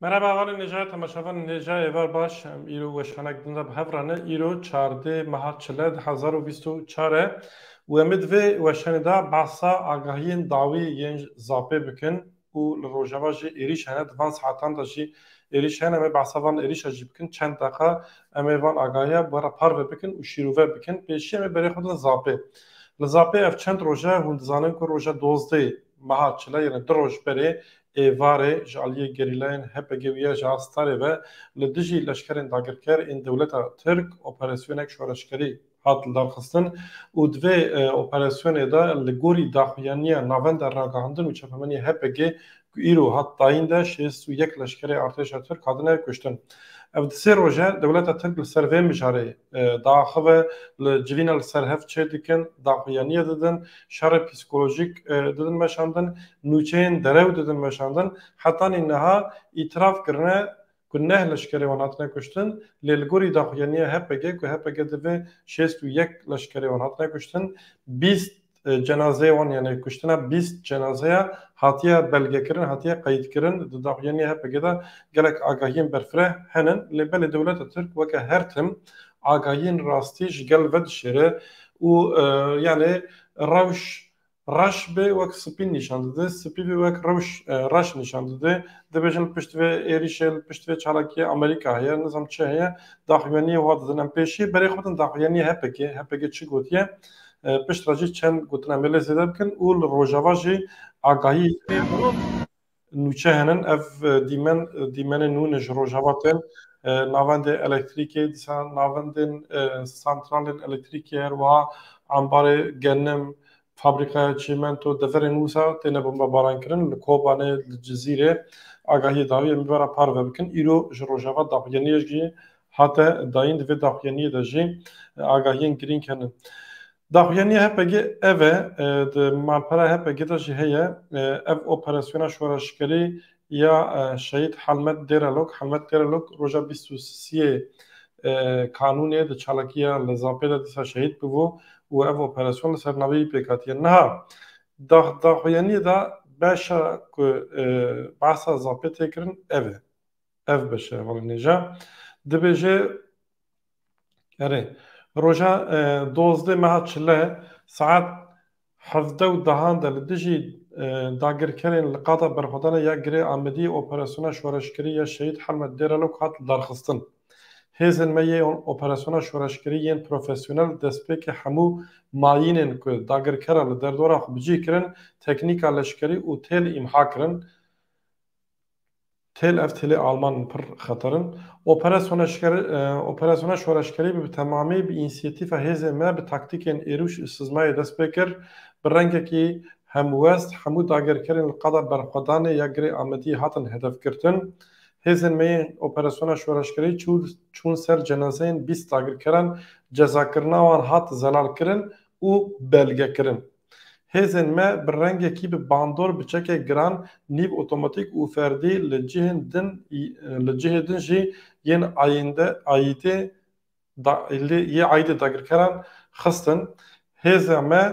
Merhaba avalê nêjaya temaşavan nêja êvar baş em îro weşanek din de bi hev rane îro çardê meha çile di hezar û bîst û çar e û em ê di vê weşanê de behsa agahiyên dawî yên zapê bikin û li rojava jî êrîş hene, di van saetan de jî êrîş hene, em ê behsa van êrîşa jî bikin çend deqa em ê van agahiya bi re parve bikin û şîrove bikin. Pêşî em ê berê xwe bidin Zapê. Li Zapê ev çend roj e hûn dizanin ku roja dozdehê meha çile yene du roj berê êvarê ji aliyê gerîlayên HPG û YJ a Starê ve li dijî leşkerên dagirker ên dewleta Tirk operasyonek şoreşgerî hat lidarxistin û di vê operasyonê de li gorî daxuyaniya Navenda Ragihandin û Çapemeniyê HPG'ê ku îro hat dayîn de şêst û yek leşkerê artêşa Tirk hatine kuştin. Ev di sê roje dewleta Tirk li ser vê mijarê diaxive, li civîna li ser hev çê dikin, daxuyaniye didin, şerê psîkolojîk didin meşandin, nûçeyên derew didin meşandin, hetanî niha îtiraf kirine ku neh leşkerê wan hatine kuştin lê li gorî daxuyaniya HPG ku HPG divê şêst û yek leşkerê wan hatine kuştin bîst cenazeyê wan yanê kuştina bîst cenazeya hatiye belgekirin hatiye qeyîdkirin di daxuyaniya HPG de gelek agahiyên berfireh henin lê belê dewleta Tirk weke her tim agahiyên rastî ji gel vedişêre û yanê rewş Reş bê wek spî nîşan dide, spî bê wek rewş reş nîşan dide. Dibêjin pişt vê êrîşê li pişt vê çalakiyê Amerîka heye, nizam çi heye, daxuyaniyê wiha didin. Em pêşî berê xwe bidin daxuyaniyê HPG'ê, HPG çi gotiye, pişt re jî çend gotina em ê lê zêde bikin û li rojava jî agahî. Nûçe henin ev dîmen dîmenên nû ne ji Rojava tên. Navendê elektrîkê dîsan navendên santralên elektrîkê her wiha ambarê genim, fabrîkaya çîmento deverên wisa têne bombebarankirin li Kobanê, li Cizîrê agahiyê daye em bibera parve bikin. Îro ji Rojava daxuyaniyek jî hate dayîn di vê daxuyaniyê de jî agahiyên girîng henin. Daxuya nû ya HPG'ê ev e, di malpera HPG'ê de jî heye, ev operasyona şoreşgerî ya Şehîd Helmet Dêrelok, Helmet Dêrelok roja bîst û siyê Kanûnê di çalakiya li Zapê de dîsa şehîd bûbû û ev operasyon li ser navê wî pêk hatiye. Niha daxuya nû de beşa ku behsa Zapê tê kirin ev e. Ev beş e hevalên nê jî. Dibêje Erê, roja dozdeh meha çile saet hevdeh û dehan de li dijî dagirkerên li qada berxwedana ya Girê Amediyê operasyona şoreşkirî ya Şehîd Helmet Dêralok hat lidarxistin. Hêzên me yê operasyona şoreşkirî yên profesyonel destpêkê hemû mayînên ku dagirkera li derdora xwe bi cih kirin teknîka leşkerî û têl îmha kirin. Têl ev têlê Alman in pir xeter in. Operasyona şoreşkerî bi temamî bi înîsiyatîfa hêzên me bi taktîkên êrûş û sizmayê dest pê kir. Bi rengekî hemwest hemû dagirkerên li qada berxwedanê ya Girê Amediyê hatin hedefgirtin. Hêzên me yên operasyona şoreşkerî çûn ser cenazeyên bîst dagirkeran, cezakirina wan hat zelalkirin û belgekirin. Hêzên me bi rengekî bi bandor bi çekek giran nîv otomatîk û ferdî li cihên din li cihê din jî yên ayînde ayîdê da lê yê ayîdê dagirkeran xistin. Hêza me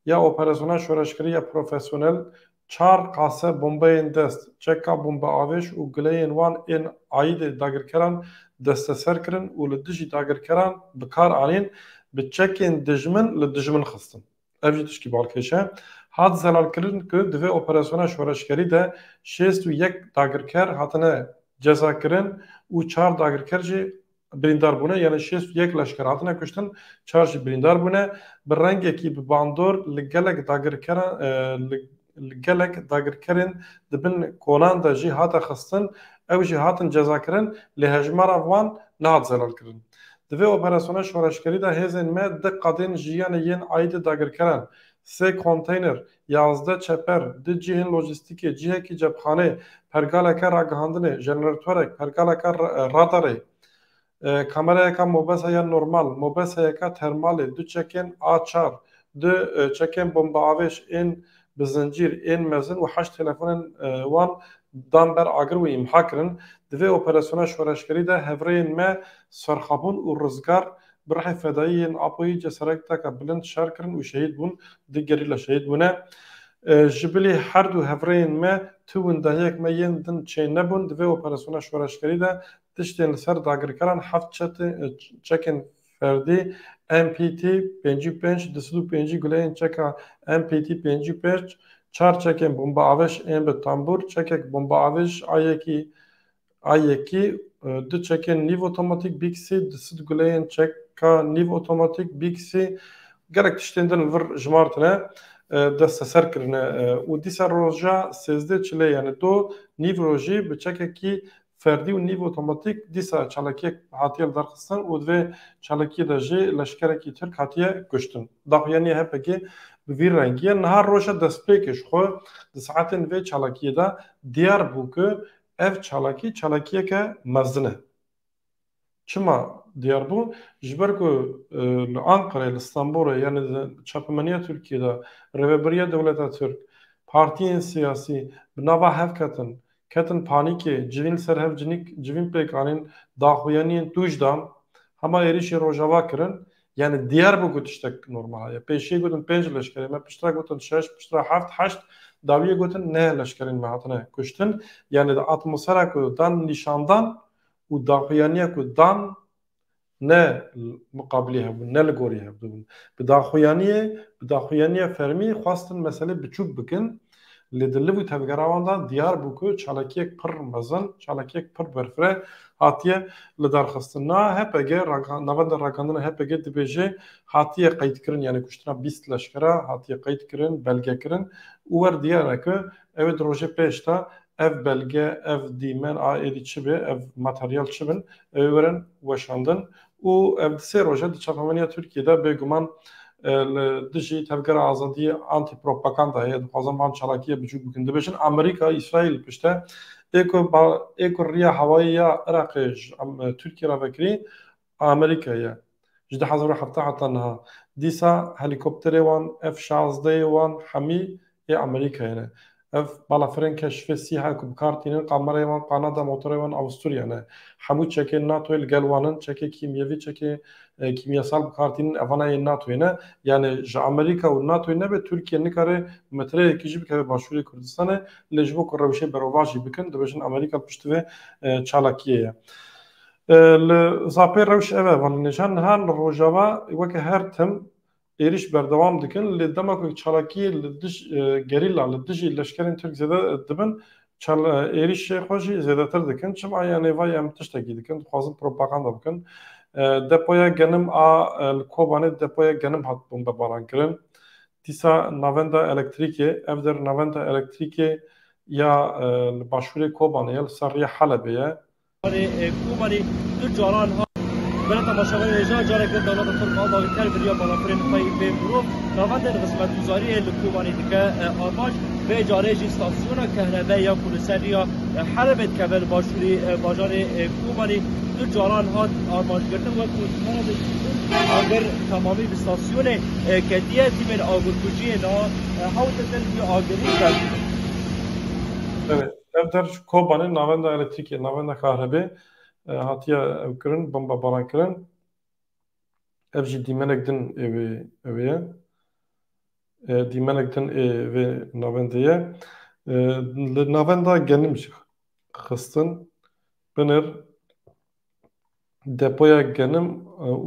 ya operasyona şoreşkirî ya profesyonel Çar qase bombeyên dest, çeka bombeavêj û guleyên wan ên aîdê dagirkeran desteser kirin û li dijî dagirkeran bi kar anîn, bi çekên dijmin li dijmin xistin. Ev jî tişkî balkêş e. Hat zelalkirin ku di vê operasyona şoreşgerî de şêst û yek dagirker hatine cezakirin û çar dagirker jî Birîndar bûne yanî şêst û yek leşker hatine kuştin, çar jî birîndar bûne. Bi rengekî bi bandor li gelek dagirkeran li gelek dagirkerên di bin kolan de jî hate xistin, ew jî hatin cezakirin lê hejmara wan nehat zelalkirin. Di vê operasyona şoreşgerî de hêzên me di qadên jiyanê yên aîdê dagirkeran, sê konteyner Yazdeh çeper, du cihên lojîstîkê, cihekî cepxanê, pergaleke ragihandinê, jeneratörek, pergaleke radarê, kamerayeka mobesa ya normal, mobesayeka termalê, du çekên A çar, du çekên bombeavêj ên bi zincîr ên mezin û heşt telefonên wan dan ber agir û îmha kirin. Di vê operasyona şoreşgerî de hevrêyên me serxabûn û rizgar Bi rihê fedayî yên Apoyî cesareteke bilind şer kirin û şehîd bûn, du gerîla şehîd bûne. Ji bilî her du hevrêyên me tu windehiyek me yên din çê nebûn. Di vê operasyona şoreşgerî de tiştên li ser dagirkeran heft çekên ferdî MPT pêncî û pênc, du sed û pêncî guleyên çeka MPT pêncî û pênc, çar çekên bombeavêj ên bi tambûr, çekek bombeavêj a yekî A yekî du çekên nîv otomatîk bîksî, du sed guleyên çeka nîv otomatîk bîksî, gelek tiştên din li vir jimartine, desteser kirine û dîsa roja sêzdeh çilê yanî do nîv rojî bi çekekî ferdî û nîv otomatîk dîsa çalakiyek hatiye lidarxistin û di vê çalakiyê de jî leşkerekî Tirk hatiye kuştin. Daxuya nî HEP'kî bi vî rengî ye. Niha roja destpêkê ji xwe di saetên vê çalakiyê de diyar bû ku Ev çalakî çalakiyeke mezin e. Çima diyar bû? Ji ber ku li Anqerê, li Stenbolê yanî di çapemeniya Tirkiyê de rêveberiya dewleta Tirk, partiyên siyasî bi nava hev ketin, ketin panîkê, civîn li ser hev cinîk civîn pêk anîn, daxuyaniyên tûj dan, hema êrîşên Rojava kirin, Yanî diyar bû ku tiştek normal heye. Pêşiyê gotin pênc leşkerên me, piştre gotin şeş, piştre heft, heşt, dawiyê gotin neh leşkerên me hatine kuştin. Yanî di atmosfera ku dan nîşandan û daxuyaniya ku dan ne miqabilî hev bûn, ne li gorî hev dibûn. Bi daxuyaniyê, bi daxuyaniya fermî xwestin meselê biçûk bikin Lê di liv û tevgera wan de diyar bû ku çalakiyek pir mezin, çalakiyek pir berfireh hatiye lidarxistin. Niha HPG, Navenda Ragandina HPG dibêje hatiye qeydkirin yanî kuştina bîst leşkera hatiye qeydkirin, belgekirin û wer diyar e ku ew ê di rojê pêş de ev belge, ev dîmen a êdî çi be, ev materyal çi bin, ew ê werin weşandin û ev di sê roja di çapemenîya Tirkiyê de bêguman li dijî Tevgera Azadiyê Antîpropakanda ye, dixwazin van çalakiyê biçûk bikin. Dibêjin Amerîka, Îsraîl li pişt e. Ê ku ê ku riya hewayî ya Iraqê ji Tirkiyê re vekirî Amerîka ye. Ji du hezar û heft heta niha dîsa helîkopterê wan F şazdeyê wan hemî Yê Amerîkayê ne. Ev balafirên keşifê sîha ku bi kar tînin kamereyê wan Kanada, motoreyê wan Avusturya ne. Hemû çekên NATOyê li gel wan in. Çekê kîmyevî, çekê kîmyesal bi kar tînin evana yên NATOyê ne. Yanê ji Amerîka û NATOyê nebe Tirkiye nikare metreyekî jî bikeve başûrê Kurdistanê. Lê ji bo ku rewşê berovajî bikin dibêjin Amerîka piştî vê çalakiyê ye. Li Zapê rewş ev e. Van li nêjan niha li Rojava weke her tim êrîş berdewam dikin lê dema ku çalakiyê li dij gerîla li dijî leşkerên Tirk zêde dibin çal êrîşê xwe jî zêdetir dikin. Çima ya nêvayê em tiştekî dikin dixwazin propaganda bikin. Depoya genim a li Kobanê depoya genim hat bombebarankirin. Dîsa navenda elektrîkê ev der navenda elektrîkê ya li başûrê Kobanê ye li ser rêya Helebê ye. Komarê du caran hat Bere temaşevanê hêja careke dewleta Tirk a dagirker biriya balafirên xwe yên bê mirov navendên xizmetguzariyê li Komarê dike armanc. Vê carê jî stasyona kehrebeyê ya ku li ser rêya Helebê dikeve li başûrê bajarê Komarê du caran hat armancgirtin wekû dimara bi hîzên agir temamî bi stasyonê ketiye. Tîmên agirkujiyê niha hewce din vî agirî berdibin. Ev der ji Kobanê navenda elektrîkê, navenda kahrebe hatiye ew kirin, bombebaran kirin. Ev jî dîmenek din ê wê ew ye. Dîmenek din ê vê navendê ye. Li navenda genim jî xistin binir. Depoya genim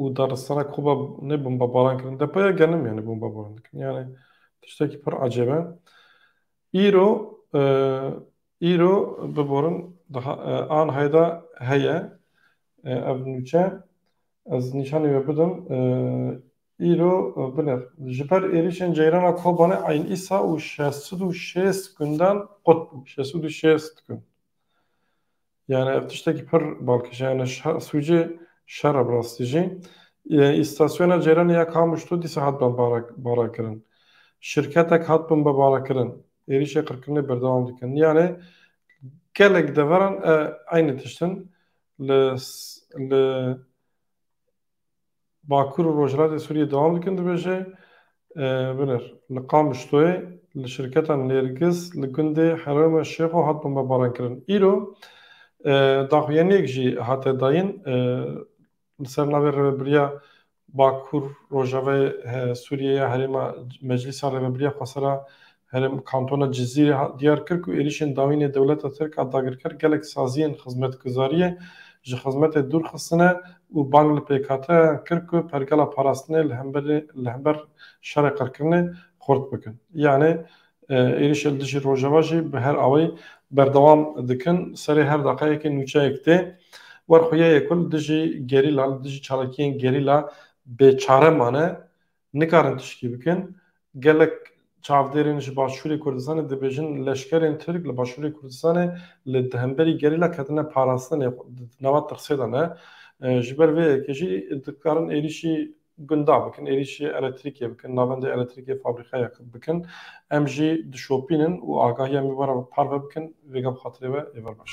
û daristana Koba ne bombebaran kirin. Depoya genim yanî bombebaran dikin. Yanî tiştekî pir ecêb e. Îro îro biborin daha an heyda heye ev nûçe ez nîşanî we bidim îro binir ji ber êrîşên ceyrana Kobanê eyn îsa û şeş sed û şêst gundan qut bû şeş sed û şêst gund. Yani ev tiştekî pir balkêşe yani sûcê şer e bi rastî jî. Îstasyona ceyranê ya Kamuşlo dîsa hat bimbarekirin. Şirketek hat bimbarekirin. Êrîşê qirkirinê berdewam dikin. Yani gelek deveran eynî tişt in. Li Bakur û Rojhilatê Sûriyê dewam dikin dibêje, Binêr li Qamişloyê li şirketa Nêrgiz li gundê Herewme Şêxo hat bombebaran kirin. Îro daxuyaniyek jî hate dayîn li ser navê Rêvebiriya Bakur Rojavayê Sûriyê ya Herêma Meclîsa Rêvebiriya Xwesera Herêm Kantona Cizîrê hat diyar kir ku êrîşên dawînê dewleta Tirk a dagirker gelek saziyên xizmetguzariyê ji xizmetê dûr xistine û bang li pêkhateyan kir ku pergala parastinê li hember li hember şerê qirkirinê xurt bikin. Yanê êrîşê li dijî Rojava jî bi her awayî berdewam dikin. Serê her daqeyekê nûçeyek tê. Werxwe ye ku li dijî gerîla li dijî çalakiyên gerîla bêçare mane Nikarin tiştî bikin. Gelek çavdêrên ji başûrê Kurdistanê dibêjin leşkerên Tirk li başûrê Kurdistanê li di hemberî gerîla ketine parastinê xwe di nava tirsê de ne. Ji ber vê yekê jî dikarin êrîşî gunda bikin, êrîşî eletrîkê bikin, navendê eletrîkê fabrîkayek bikin. Em jî dişopînin û agahiya me were parve bikin. Vêga bi xatirê we ê ver baş.